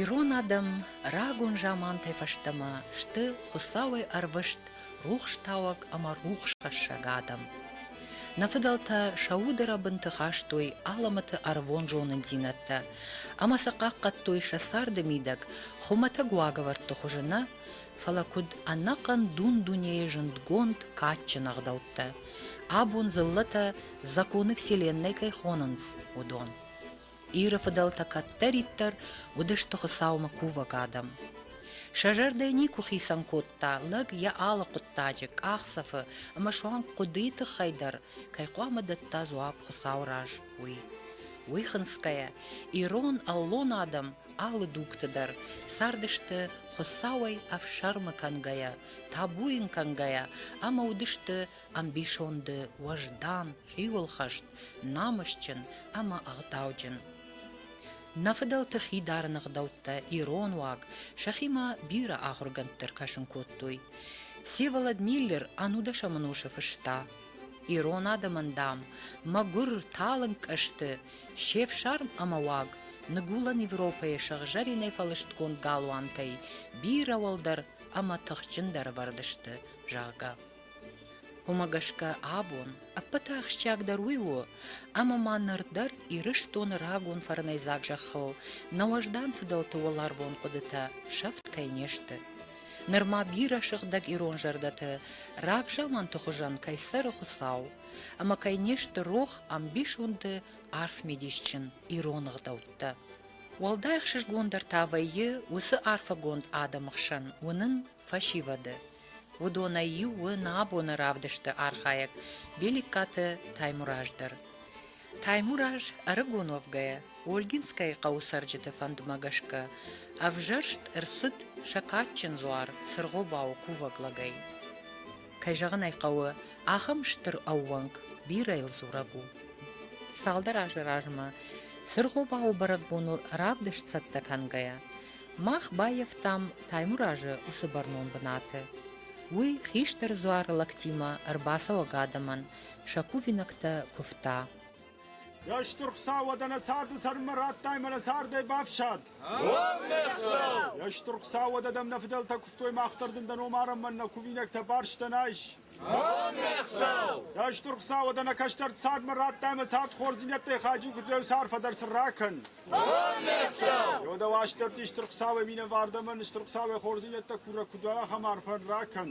Ирон адӕм рагон замантӕй фӕстӕмӕ сты Хуыцауӕй ӕрвыст рухстауӕг ӕмӕ рухсхӕссӕг адӕм. Нӕ фыдӕлтӕ сӕ уды рӕбынты хастой алӕмӕты ӕрвон зонындзинӕдтӕ ӕмӕ сӕ хъахъхъӕдтой сӕ царды мидӕг хуымӕтӕг уагӕвӕрдты хуызы нӕ, фӕлӕ куыд ӕнӕхъӕн дун-дунейы зындгонд кадджын ӕгъдӕуттӕ, абон дзыллӕтӕ законы Вселеннӕ кӕй хонынц, уыдон. Иры фыдӕлтӕ кӕддӕриддӕр уыдысты Хуыцаумӕ кувӕг адӕм. Сӕ зӕрдӕ никуы хицӕн кодта, лӕг йӕ алы хъуыддаджы, къахдзӕфы ӕмӕ суанг хъуыдыйы тыххӕй дӕр кӕй хъуамӕ дӕтта дзуапп Хуыцауы раз, уый. Уый хынцгӕйӕ, ирон аллон адӕм алы дугты дӕр цардысты Хуыцауӕй ӕфсӕрмы кӕнгӕйӕ, табу йын кӕнгӕйӕ ӕмӕ уыдысты ӕмбисонды уӕздан, хиуылхӕст, намысджын ӕмӕ ӕгъдауджын. Нӕ фыдӕлты хидарын ӕгъдӕуттӕ ирон уаг сӕхимӕ бирӕ ахуыргӕндты ӕркӕсын кодтой. Всеволод Миллер ӕнудӕсӕмӕн усы фыста: Ирон адӕмӕн, дам, мӕгуыр, талынг ӕсты, се фсарм ӕмӕ уаг Ныгуылӕн Европӕйы сыгъзӕринӕй фӕлыстгонд галуантӕй бирӕ уӕлдӕр ӕмӕ тыхджындӕр ӕвӕрд сты, зӕгъгӕ. Уымӕ гӕсгӕ абон ӕппӕты ахсджиагдӕр уый у, ӕмӕ ма ныр дӕр Ирыстоны рагон фӕрнӕйдзаг зӕххыл нӕ уӕздан фыдӕлты уӕларвон хъуыдытӕ сӕфт кӕй не сты. Нырма бирӕ сыгъдӕг ирон зӕрдӕты рагзаманты хуызӕн кӕй цӕры Хуыцау, ӕмӕ кӕй не сты рох ӕмбисонды арфмидисджын ирон ӕгъдӕуттӕ. Уӕлдай ӕхсызгондӕр та вӕййы уыцы арфӕгонд адӕмы хсӕн уынын фӕсивӕды, Уыдонӕй иу у нӕ абоны равдысты архайӕг Беликкаты Таймураз дӕр. Таймураз ӕрыгон уӕвгӕйӕ Ольгинскӕйы хъӕуы цӕрджыты фӕндмӕ гӕсгӕ ӕвзӕрст ӕрцыд сӕ кадджын дзуар Цыргъобауы кувӕг лӕгӕй. Кӕй зӕгъын ӕй хъӕуы, ахӕм стыр ӕууӕнк бирӕйыл дзурӕг у. Цалдӕр азы размӕ Цыргъобауы бӕрӕгбоныл равдыст цӕттӕ кӕнгӕйӕ Мах баййӕфтам Таймуразы уыцы бӕрнон бынаты. Уый хистӕр дзуары лӕгтимӕ ӕрбацӕуӕг адӕмӕн сӕ кувинӕгтӕ куывта. Йе стыр Хуыцау уӕдӕ нӕ царды цӕрынмӕ радтай мӕ нӕ цардӕй бафсад! Йе стыр Хуыцау уӕдӕ дӕм нӕ фыдӕлтӕ куывтой мах дӕр дын дӕ ном арӕнмӕ нӕ кувинӕгтӕ барстӕн айс! Кӕстур Хуцауӕд ӕнӕ кӕстӕр цадмӕ радта ӕма цард хорздзийнӕдтӕй хаджи курдуй арфӕ дӕр сын ракӕн. Еудӕ уастӕрти Стур Хуцауӕ минӕвардӕмӕ Стур Хуцауӕ хорздзийнӕдтӕ курӕг куд уа, ахӕм арфӕ ракӕн.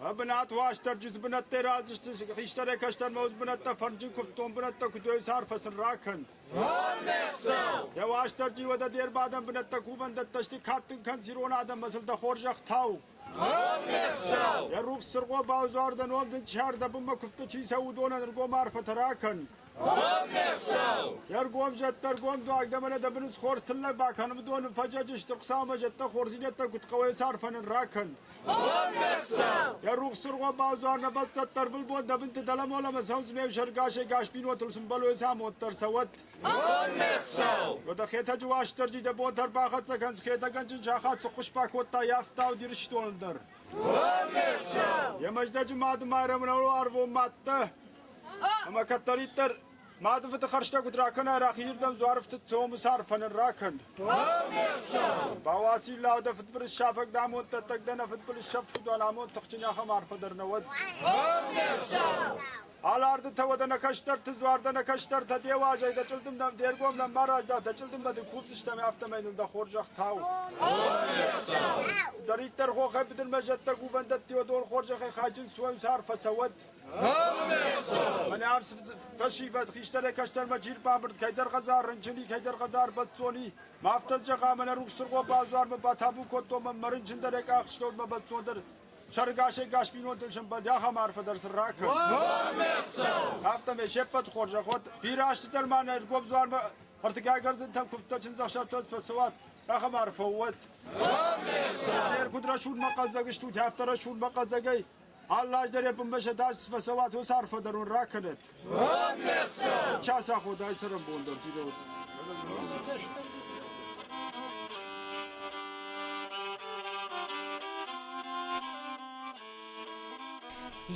Ӕ бунат уастӕрджи дзбунӕттӕй раздзусти хистӕрӕй кӕстӕрмӕ уз бунӕттӕ фӕрнджин кувддон бунӕттӕ куд уой арфӕ сын ракӕн. Дӕ уастӕрджи уӕдӕ де рбадӕн бунӕттӕ кувӕндӕттӕ сти кадтин кӕн зирон адӕммӕ зилдӕ хорзӕхтау. Йӕ рухс цыргъо бавзардӕн уӕм дын сӕрдӕбынмӕ куывдты чи цӕуы, уыдонӕн ӕргом арфӕтӕ ракӕн. Йе ргом зӕдтӕ ӕргом дуаг дӕ мӕнӕ дӕ быныс хорз тыллӕг бакӕн, уыдон ын фӕджӕджы сты Хуыцаумӕ зӕдтӕ, хорздзинӕдтӕ куыд хъӕуы цы арфӕ нын ракӕн. Йӕ рухс цыргъо бавзар нӕ бӕлццӕттӕ ӕрвылбон дӕ вынты дӕлӕмолӕмӕ цӕудз ме взӕргасӕй гас бинонтыл сын бӕлойы цы амонд дӕр цӕуӕд. Уӕдӕ Хетӕджы Уастырджи дӕ бон дӕр бахӕццӕ кӕнс Хетӕггӕнджын сахат цы хъуыспӕ кодта йӕ ӕфтауд Ирыстоны дӕр. Йӕ Мӕздӕджы Мады Майрӕмрӕнуы ӕрвон мадтӕ ӕмӕ кӕддӕриддӕр мады фыды хӕрзтӕ куыд ракӕнай, рахизырдӕм дзуарфтыд цомус арфӕ ныр ракӕн. Бауаси лӕу дӕ фыдбылыз сафӕг дӕ амонд дӕттӕг дӕ нӕ фыдбылыз сӕфт куыд уа, амонд тыхджын ахӕм арфӕ дӕр нӕ уӕд. Алардытӕ уӕдӕ нӕ кӕстӕрты дзуар дӕ нӕ кӕстӕртӕ де уазӕй дӕ чъылдым дӕм де ргом лӕм ма раздӕ дӕ чъылдым бӕ дын кусдзыстӕм, афтӕмӕй ныл дӕ хорзӕх тау. Дӕриддӕр хохӕй быдырмӕ зӕдтӕ кувӕндӕтти уӕ дон хорзӕхӕй хайджын суӕнс арф фӕцӕуӕд. Мӕнӕ арс фӕсивӕд хистӕрӕй кӕстӕрмӕ джир бамбырд кӕйдӕр хӕдзар рынчыни, кӕйдӕр хӕдзар бӕццони. Ма афтӕ зӕгъа, мӕнӕ рухс цыргъо базуармӕ батабу кодтон мӕ рынчындӕрӕй къахстон мӕ бӕццондӕр Сӕргӕсӕй гӕс бинонтӕн сӕмбӕлди ахӕм арфӕ дӕр сын ракӕн. Афтӕмӕй се ппӕты хорзӕх уӕд, бирӕазты дӕр ма нӕ Ӕргом дзуармӕ ӕртыгай гӕрзынтӕм куывдтӕ чындзӕхсӕвтӕ фӕцӕуӕд, ахӕм арфӕ уӕд. Не ргуыд рӕсугъдмӕ хъӕддзаг стут, афтӕ рӕсугъдмӕ хъӕддзагӕй, аллаз дӕр йӕ бынмӕ сӕ дас фӕцӕуӕд, уыцы арфӕ дӕр уын ракӕнӕд. Час аход ай цӕрӕнбон дӕр фидауд.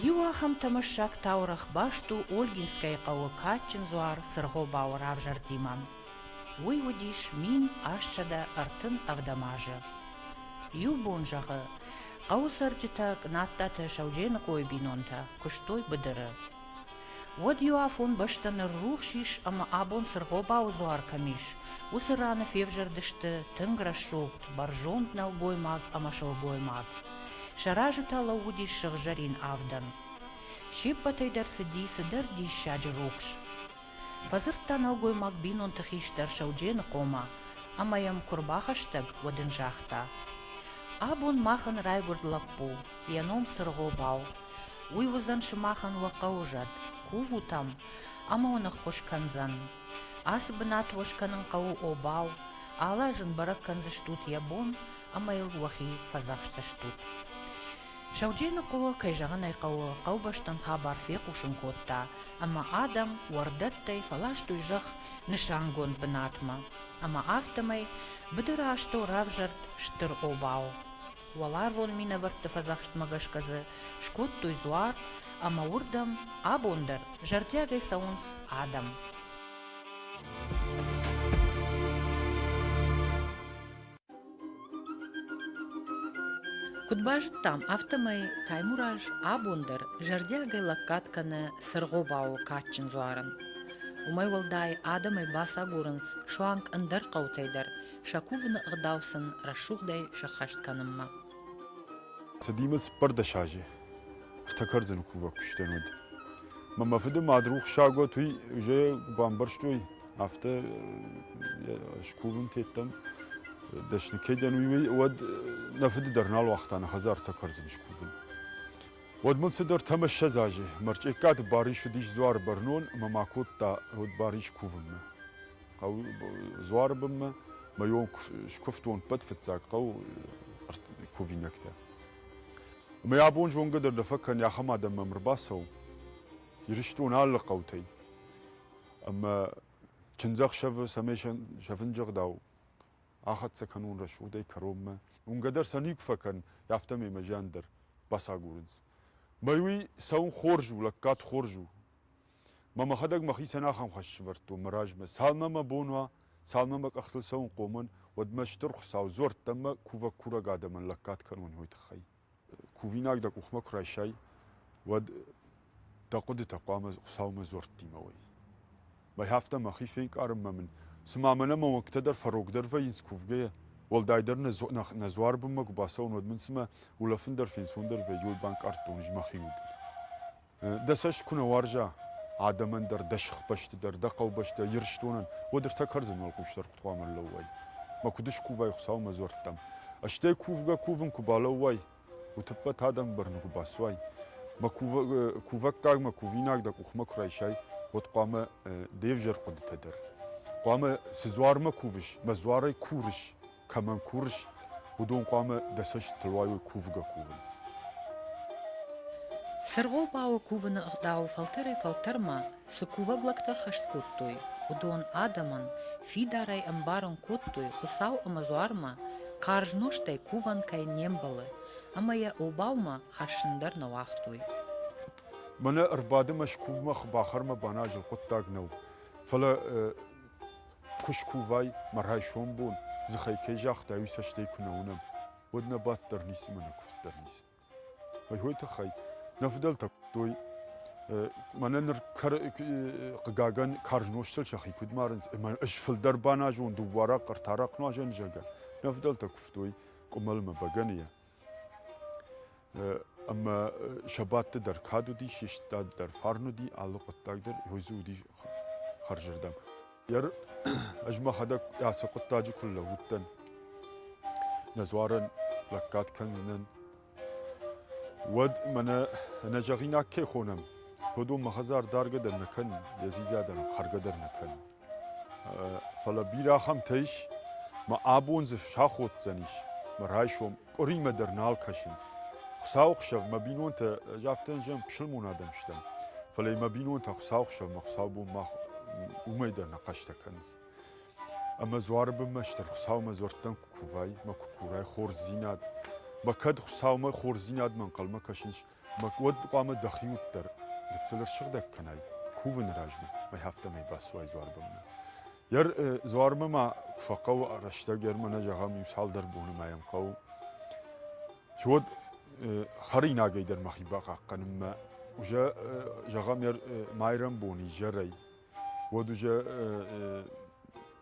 Иу ахӕм тӕмӕссаг таурӕгъ баст у Ольгинскӕйы хъӕуы кадджын дзуар Сыргъобауы равзӕрдимӕ. Уый уыдис мин астсӕдӕ ӕртын ӕвдӕм азы. Иу бон зӕгъы, хъӕуы цӕрджытӕ Кънаттаты Саудженыхъойы бинонтӕ куыстой быдыры. Уӕд иу афон бӕстӕ ныррухс ис ӕмӕ абон цы ргъобауы дзуар кӕм ис, уыцы раны февзӕрдысты тынг рӕсугъд, бӕрзонд нӕлгоймаг ӕмӕ сылгоймаг. Сӕ разы та лӕууыдис сыгъзӕрин авдӕн. Се ппӕтӕй дӕр цыди цыдӕр диссаджы рухс. Фӕдзырдта нӕлгоймаг бинонты хистӕр Сӕудженыхъомӕ ӕмӕ йӕм куы рбахӕстӕг, уӕд ын загъта, Абон мах ын райгуырд лӕппу, Йӕ ном Цыргъобау. Уый уыдзӕн сымахӕн уӕ хъӕуы зӕд, кувут ӕм ӕмӕ уын ӕххуыс кӕндзӕн. Ацы бынат уӕ скӕнын хъӕуы обау, алы аз ын бӕрӕг кӕндзыстут йӕ бон ӕмӕ йыл уӕхи фӕдзӕхсдзыстут. Сауджей Ныхъуылы, кӕй зӕгъын ӕй хъӕуы, хъӕубӕстӕн хабар фехъусын кодта, ӕмӕ адӕм уӕрдӕттӕй фӕластой зӕхх нысангонд бынатмӕ, ӕмӕ афтӕмӕй быдыры астӕу равзӕрд стыр обау. Уӕларвон минӕвӕртты фӕдзӕхстмӕ гӕсгӕ дзы скодтой дзуар ӕмӕ уырдӕм абон дӕр зӕрдиагӕй цӕуынц адӕм. Куыд базыдтам, афтӕмӕй Таймураз абон дӕр зӕрдиагӕй лӕггад кӕны Сыргъобауы кадджын дзуарын. Уымӕй уӕлдай адӕмӕй бацагурынц суанг ӕндӕр хъӕутӕй дӕр сӕ кувыны ӕгъдау сын рӕсугъдӕй сӕххӕст кӕнынмӕ. Цыдимӕ цыппӕрдӕс азы ӕртӕ кӕрдзыны кувӕг куы сдӕн, уӕд мӕ мӕ фыды мад рухсагуат уый уже куы бамбӕрстой, афтӕ скувын тедтам дӕсны кӕй дӕн, уый, уӕд нӕ фыды дӕр нал уагъта нӕ хӕдзарты кӕрдзын скувын. Уӕд мын цыдӕр ӕмӕссӕдз азы мӕрчъеккаты Барис уыдис дзуары бӕрнон ӕмӕ ма кодта уыд Барис кувынмӕ. хъӕу Дзуары бынмӕ мӕйон скуывтон ӕппӕт фыццаг хъӕу кувинӕгтӕ. Ӕмӕ абон зонгӕ дӕр дӕ фӕкӕн, ахӕм адӕм мӕм ӕрбацӕуы Ирыстон алы хъӕутӕй. Ӕмӕ чындзӕхсӕвы цӕмӕй сӕвын зӕгъдау, ахӕццӕ кӕнон рӕсугъдӕй кӕронмӕ. Уынгӕ дӕр сӕ никуы фӕкӕн, афтӕмӕй мӕ зиан дӕр бацагурынц. Мӕй уый цӕуын хорз у, лӕггад хорз у. Мӕ мӕхӕдӕг мӕхицӕн ахӕм хӕс сӕвӕрдтон мӕ размӕ, цалынмӕ мӕ бон уа, цалынмӕ мӕ къӕхтыл цӕуын хъомӕн, уӕдмӕ Стыр Хуыцау дзуӕрттӕмӕ кувӕг-курӕг адӕмӕн лӕггад кӕнон уый тыххӕй. Кувинаг дӕ къухмӕ куы райсай, уӕд дӕ хъуыдытӕ хъуамӕ Хуыцаумӕ дзуӕрттимӕ уой. Мӕй афтӕ мӕхи фенкъарынмӕ мын, цыма мӕнӕ мӕ уӕнгтӕ дӕр фӕрогдӕр вӕййынц кувгӕйӕ, уӕлдайдӕр нӕ дзуар бынмӕ куы бацӕуон, уӕд мын цымӕ улӕфын дӕр фенцондӕр вӕййы, уый банкъардтон ӕз мӕхи удыл. дӕ цӕст куы нӕ уарза адӕмӕн дӕр, дӕ сыхбӕсты дӕр, дӕ хъӕубӕстӕ Ирыстонӕн, уӕд ӕртӕ кӕрдзын уӕлхъусдард куыд хъуамӕ ӕрлӕууай? Мӕ куыд скувай Хуыцаумӕ дзуӕрттӕм? Стӕй кувгӕ-кувын куы балӕууай, утыппӕт адӕмы бӕрны куы бацуай, мӕ кувӕггагмӕ, кувинаг дӕ къухмӕ куы райсай, уӕд хъуамӕ де взӕр хъуыдытӕ дӕр, хъуамӕ цы дзуармӕ кувыс, мӕ дзуарӕй курыс, кӕмӕн курыс, уыдон хъуамӕ дӕ цӕстытыл уайой кувгӕ-кувын. Сыргъ хъӕуы кувыны ӕгъдау фӕлтӕрӕй-фӕлтӕрмӕ цы кувӕг лӕгтӕ хӕст кодтой, уыдон адӕмӕн фидарӕй ӕмбарын кодтой, Хуыцау ӕмӕ дзуармӕ карз нозтӕй кувӕн кӕй не мбӕлы, ӕмӕ йӕ обаумӕ хӕссын дӕр нӕ уагътой. Мӕнӕ ӕрбады мӕ скувмӕ, хъбахӕрмӕ баназын хъуыддаг нӕу, фӕлӕ Куы скувай, мӕ райсом бон, дзыхӕй кӕй загътай, уый цӕстӕй куы нӕ уынӕм, уӕд нӕ бадт дӕр ницы мӕ нӕ куывд дӕр ницы. Ой тыххӕй нӕ фыдӕлтӕ куырдтой, мӕнӕ ныр хъыгагӕн карз нозтыл сӕхи куыд марынц, ӕмӕ ӕз фылдӕр баназон дыууӕрӕхъ, ӕртӕрӕхъ нуазӕн зӕгӕ. Нӕ фыдӕлтӕ куывтой къуымӕлмӕ бӕгӕныйӕ, Ӕмӕ сӕ бадты дӕр кад уыди, се стад дӕр фарн уыди, алы хъуыддаг дӕр йой дзы уыди хӕрзырдӕм. Ӕз мӕхӕдӕг ацы хъуыддаджы куы лӕууыдтӕн, нӕ дзуарӕн лӕггад кӕндзынӕн, уӕд мӕнӕ ӕнӕзӕгъинаг кӕй хонӕм, уыдон мӕ хӕдзар даргӕ дӕр нӕ кӕнын, йӕ дзидза дӕр, хӕргӕ дӕр нӕ кӕнын. Фӕлӕ бирӕ ахӕмтӕ ис, ӕмӕ абон дзы саходдзӕнис, мӕ райсом къуыримӕ дӕр нал кӕсынц. Хуыцауы хсӕв мӕ бинонтӕ, ӕз афтӕ зӕгъын, пысылмон адӕм стӕм, фӕлӕ мӕ бинонтӕ Хуыцауы хсӕвмӕ хуыцаубон мах уымӕй дӕр нӕ хъӕстӕ кӕнынц. Ӕмӕ дзуары бынмӕ стыр Хуыцаумӕ дзуӕрттӕм куы кувай, мӕ куы курай хорздзинад, мӕ кӕд Хуыцаумӕ хорздзинадмӕ ӕнхъӕлмӕ кӕсынц, Бак уӕд хъуамӕ дӕхи уыддӕр гыццылӕр сыгъдӕг кӕнай кувыны размӕ ӕмӕ афтӕмӕй бацуай Дзуарбонмӕ. Йӕ Дзуармӕ ма куы фӕхъӕуы рӕстӕг, йӕр мӕнӕ зӕгъӕм иу цалдӕр боны ма йӕм хъӕуы, уӕд хӕринагӕй дӕр мӕхи бахъахъхъӕнынмӕ уызӕ зӕгъӕм йӕр майрӕмбон изӕрӕй, уӕд уызӕ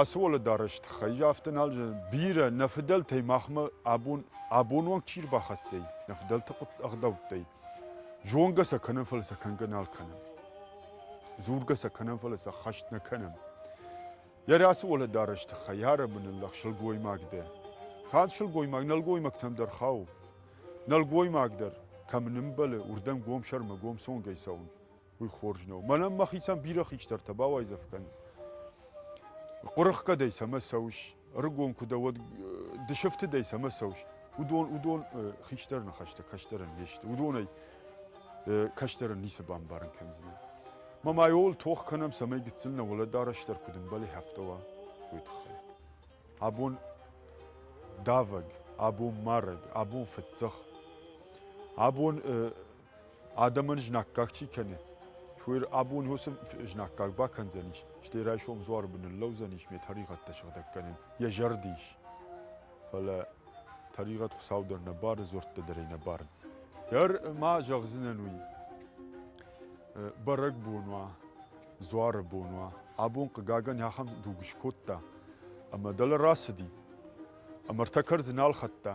Ацы уӕлӕдарӕс тыххӕй афтӕ нал зӕгъын. Бирӕ нӕ фыдӕлтӕй махмӕ абон абонуаг чи рбахӕццӕ ӕй, нӕ фыдӕлты ӕгъдӕуттӕй, зонгӕ сӕ кӕнӕм, фӕлӕ сӕ кӕнгӕ нал кӕнӕм. Дзургӕ сӕ кӕнӕм, фӕлӕ сӕ хӕст нӕ кӕнӕм. Йӕ ацы уӕлӕдарӕс тыххӕй ӕрӕмбынын лӕг сылгоймаг дӕ. Канд сылгоймаг, нӕлгоймӕгтӕм дӕр хауы. Нӕлгоймаг дӕр, кӕм нымбӕлы, уырдӕм гом сӕрмӕ гом цонгӕй цӕуын. уый хорз нӕу. Мӕнӕн мӕхицӕн бирӕ хистӕртӕ бауайдзӕф кӕнынц. Хъуырыхъхъӕ дӕй цӕмӕ цӕуыс, ӕрыгон куы дӕ, уӕд дысыфты дӕй цӕмӕ цӕуыс, уыдон, уыдон хистӕр ныхӕстӕ кӕстӕрӕн не сты. Уыдонӕй кӕстӕрӕн ницы бамбарын кӕндзынӕ. Ма ма ууыл тох кӕнӕм, цӕмӕй гыццыл нӕ уӕлӕдарӕстдӕр куыд ӕмбӕлы хӕфтӕуа, уый тыххӕй. Абон давӕг, абон марӕг, абон фӕдзӕх, абон Адӕмӕн знаггаг чи кӕны, уый абон уыцы знаггаг бакӕндзӕнис, стӕй райсом дзуары бын ныллӕудзӕнис ме тӕригъӕдтӕ сыгъдӕг кӕнын, йӕ зӕрд ис. Фӕлӕ тӕригъӕд Хуыцау дӕр нӕ бары, дзуӕрттӕ дӕр ӕй нӕ барынц. Дӕр ма зӕгъдзынӕн уый, бӕрӕгбон уа, дзуары бон уа, абон, хъыгагӕн, ахӕм дуг скодта, ӕмӕ дӕлӕ рацыди, ӕмӕ ӕртӕ кӕрдзы нал хӕдта,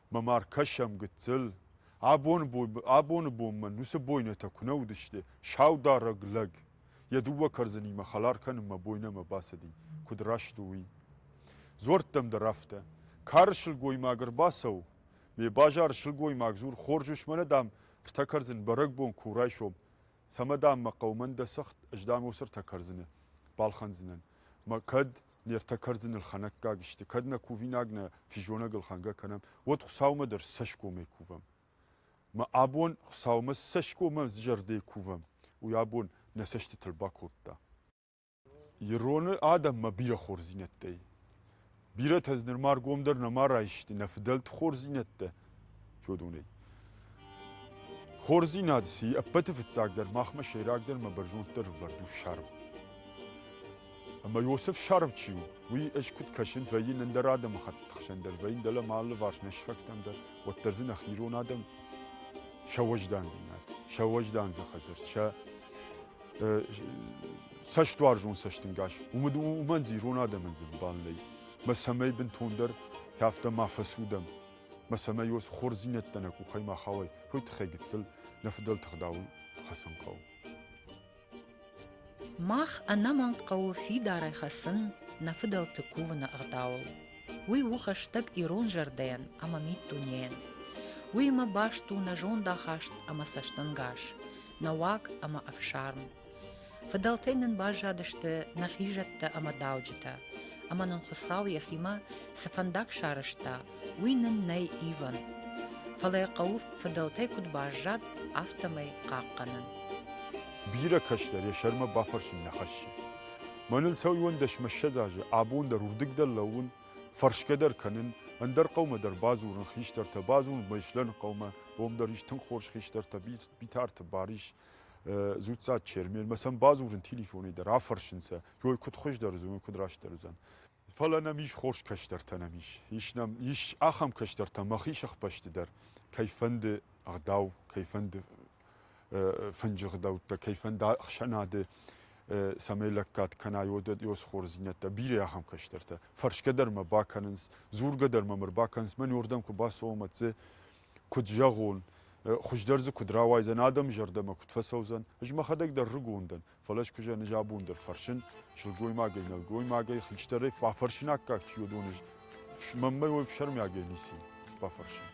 мӕ ма ркӕсӕм гыццыл. Абоны бонмӕ уыцы бойнӕтӕ куы нӕ уыдысты саударӕг лӕг. Йӕ дыууӕ кӕрдзынимӕ хӕлар кӕнынмӕ бойнӕмӕ бацыди, куыд раст у, уый. Дзуӕрттӕм дӕр афтӕ. Кары сылгоймаг ӕрбацӕуы. Ме базары сылгоймаг дзур, хорз ус мӕнӕ, дам, ртӕ кӕрдзын бӕрӕгбон куы райсом. Цӕмӕ, дам, мӕ хъӕумӕ дӕ цыхт, ӕз, дам, уыцы ртӕ кӕрдзыны балхӕндзынӕн. Мӕ кӕд Нартӕ кӕрдзыныл хӕнӕггаг сты, кӕд нӕ кувинаг нӕ физонӕгыл хӕнгӕ кӕнӕм, уӕд Хуыцаумӕ дӕр цӕсгомӕй кувӕм. Мӕ абон Хуыцаумӕ цы цӕсгомӕ зӕрдӕйы кувӕм, уый абон нӕ цӕстытыл бакодта. Ироны адӕммӕ бирӕ хорздзинӕдтӕ и. Бирӕтӕ дзы нырма ӕргомдӕр нӕма райсты, нӕ фыдӕлты хорздзинӕдтӕ фӕдонӕй. Хорздзинад си ӕппӕты фыццагдӕр махмӕ сӕйрагдӕр мӕ бӕрзонддӕр ӕвӕрд у фсарм. Ӕмӕ Иосиф сарв чи у, уый ӕз куыд кӕсын, вӕййын ӕндӕр адӕмыхатт хсӕн дӕр, вӕййын дӕлӕ ма ӕлыварс не срӕгтӕм дӕр, уӕддӕр дзы нӕхи ирон адӕм сӕ уӕздандзинад, сӕ уӕздандзы хӕдзӕрт, сӕ цӕстуарзон цӕстынгас, уымӕн дзы ирон адӕмӕн дзы ӕмбал нӕй. Мӕ цӕмӕй бынтондӕр афтӕ ма фӕцудӕм, ба сӕмӕ уос хорздзийнӕдтӕ нӕ къухӕй ма хауай, уой туххӕй гыццыл нӕ фыдӕлты гъдауыл хӕцын хъӕуы. Мах ӕнӕмӕнг хъӕуы фидарӕй хӕцын нӕ фыдӕлты кувыны ӕгъдауыл. Уый у хӕстӕг ирон зӕрдӕйӕн ӕмӕ миддунейӕн. Уыимӕ баст у нӕ зондахаст ӕмӕ цӕстӕнгас, нӕ уаг ӕмӕ ӕфсарм. Фыдӕлтӕй нын баззадысты нӕ хизӕттӕ ӕмӕ дауджытӕ, ӕмӕ нын Хуыцау йӕхимӕ цы фӕндаг сарӕзта, уый нын нӕй ивӕн. Фӕлӕ йӕ хъӕуы фыдӕлтӕй куыд баззад, афтӕмӕй хъахъхъӕнын. Бирӕ кӕстӕр йӕ сӕрмӕ бафӕрсын нӕ хӕссы. Мӕнӕн сӕуӕндӕсмӕ ссӕдз азы абон дӕр уырдыг дӕр лӕууын, фӕрсгӕ дӕр кӕнын, ӕндӕр хъӕумӕ дӕр бадзурын, хистӕртӕ бадзурын, мӕ ислӕн хъӕумӕ, уым дӕр ис тынг хорз хистӕртӕ, Битарты Барис, зудцад чермермӕ сӕм бадзурын телефонӕй дӕр афӕрсынцӕ, ой куыд хуыздӕр уыдзӕн, ой куыд растдӕр уыдзӕн. Фӕлӕ нӕм ис хорз кӕстӕртӕ нӕм ис. Ис нӕм ис ахӕм кӕстӕртӕ мӕхи сыхбӕсты дӕр, кӕй фӕнды ӕгъдау, кӕй фӕнды фынджы гъдӕуттӕ, кӕй фӕнды ӕхсӕнады цӕмӕй лӕггад кӕна, ёсхордзинӕдтӕ, бирӕ ахӕм кӕстӕртӕ. Фӕрсгӕ дӕр мӕ бакӕнынц, дзургӕ дӕр мӕм ӕрбакӕнынц, мӕн уырдӕм куы бацӕуӕм, ӕдде Куыд зӕгъон, хуыздӕр дзы куыд рауайдзӕн, адӕмы зӕрдӕмӕ куыд фӕцӕудзӕн, ӕз мӕхӕдӕг дӕр рыгон дӕн, фӕлӕ ӕскуызӕн ӕз абон дӕр фӕрсын, сылгоймагӕй, нӕлгоймагӕй, хистӕрӕй фӕфӕрсинаггаг чи уыдон, ӕз мӕнмӕ уой фсӕрмиагӕй ницы бафӕрсын.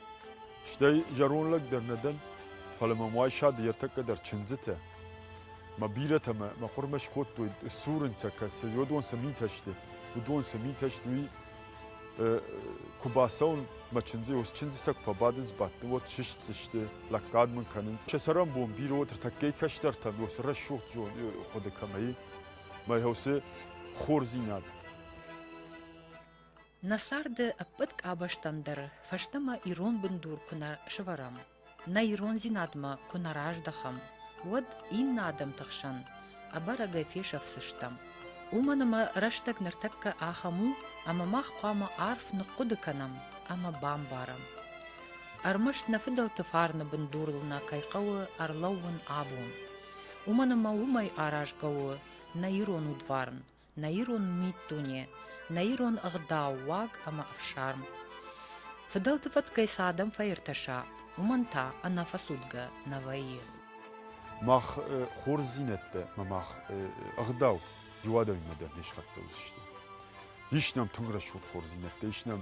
Стӕй зӕронд лӕг дӕр нӕ дӕн, фӕлӕ мӕм уайсады ӕртӕккӕ дӕр чындзытӕ, мӕ бирӕтӕ мӕ мӕ хъуырмӕ скодтой, ссурын сӕ кӕсы, уыдон цы митӕ сты, уыдон цы митӕ сты, уый Куы бацӕуын мӕ чындзы, уыцы чындзытӕ куы фӕбадынц, бадты уӕд сыстдзысты, лӕггад мын кӕнынц. Се сӕрӕнбон бирӕ уыд ӕртӕггай кӕстӕртӕн уыцы рӕсугъд хъуыды кӕмӕ и, мӕ уыцы хорздзинад. Нӕ царды ӕппӕт къабӕзтӕн дӕр фӕстӕмӕ ирон бындур куы нӕ сывӕрӕм, Нӕ ирондзинадмӕ куы нӕ раздӕхӕм, уӕд иннӕ адӕмты хсӕн ӕбӕрӕгӕй фесӕфдзыстӕм. Уымӕн ӕмӕ рӕстӕг ныртӕккӕ ахӕм у, ӕмӕ мах хъуамӕ арф ныхъхъуыды кӕнӕм ӕмӕ бамбарӕм. Ӕрмӕст нӕ фыдӕлты фарны бындурыл нӕ кӕй хъӕуы ӕрлӕууын абон. Уымӕн ӕмӕ уымӕй аразгӕ у нӕ ирон удварн, нӕ ирон миддуне, нӕ ирон ӕгъдау, уаг ӕмӕ ӕфсарм. Фыдӕлты фӕткӕй цы адӕм фӕиртӕса, уымӕн та ӕнӕфӕцудгӕ нӕ вӕййы. Мах хорздзинӕдтӕ ӕмӕ мах ӕгъдау иу адӕмимӕ дӕр не схӕццӕ уыдзысты. Ис нӕм тынг рӕсугъд хорздзинӕдтӕ, ис нӕм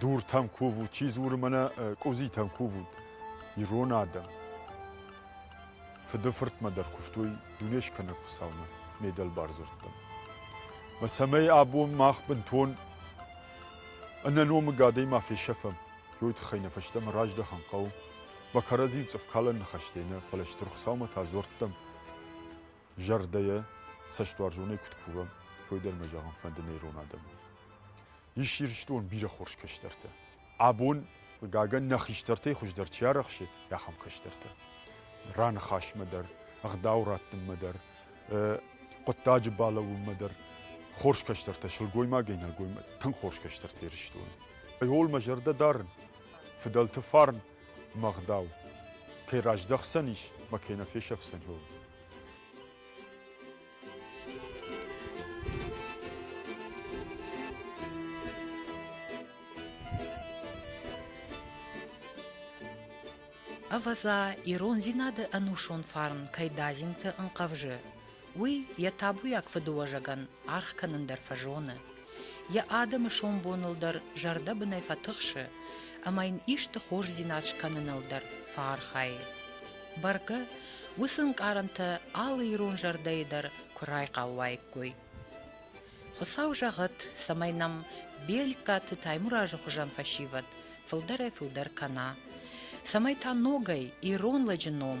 Дуртӕм кувут, чи дзуры мӕнӕ къудзитӕм кувут, ирон адӕм. Фыды-фыртмӕ дӕр куывтой дуне скӕнӕг Хуыцаумӕ, ме дӕлбар дзырдтӕм. Мӕ цӕмӕй абон мах бынтон ӕнӕномыг адӕймаг фесӕфӕм, уый тыххӕй нӕ фӕстӕмӕ раздӕхын хъӕуы, ба кӕрӕдзийыл цъыфкалӕн ныхӕстӕй нӕ, фӕлӕ Стыр Хуыцаумӕ та дзуӕрттӕм зӕрдӕйӕ цӕстуарзонӕй куыд кувӕм, уый дӕр мӕ зӕгъын фӕнды нӕ ирон адӕмӕн. Ис Ирыстон бирӕ хорз кӕстӕртӕ. Абон, хъыгагӕн, нӕ хистӕртӕй хуыздӕр чи арӕхсы, ахӕм кӕстӕртӕ. Раныхасмӕ дӕр, ӕгъдау раттынмӕ дӕр, хъуыддаджы балӕууынмӕ дӕр хорз кӕстӕртӕ, сылгоймагӕй нӕлгоймаг, тынг хорз кӕстӕртӕ Ирыстоны. Ууыл мӕ зӕрдӕ дарын, фыдӕлты фарн мӕ ӕгъдау, кӕй раздӕхдзӕнис мӕ кӕй нӕ фесӕфдзӕн, ууыл. Ӕвӕдза, ирондзинады ӕнусон фарн кӕй дадзинты ӕнхъӕвзы, уый йӕ табуйаг фыдыуӕзӕгӕн аргъ кӕнын дӕр фӕзоны. Йӕ адӕмы сомбоныл дӕр зӕрдӕбынӕй фӕтыхсы ӕмӕ йын исты хорздзинад скӕныныл дӕр фӕархайы. Бӕргӕ, уыцы ӕнкъарӕнтӕ алы ирон зӕрдӕйы дӕр куы райхъал уаиккой. Хуыцау зӕгъӕд, цӕмӕй нӕм Бельккаты Таймуразы хуызӕн фӕсивӕд фылдӕрӕй-фылдӕр кӕна, цӕмӕй та ногӕй ирон лӕджы ном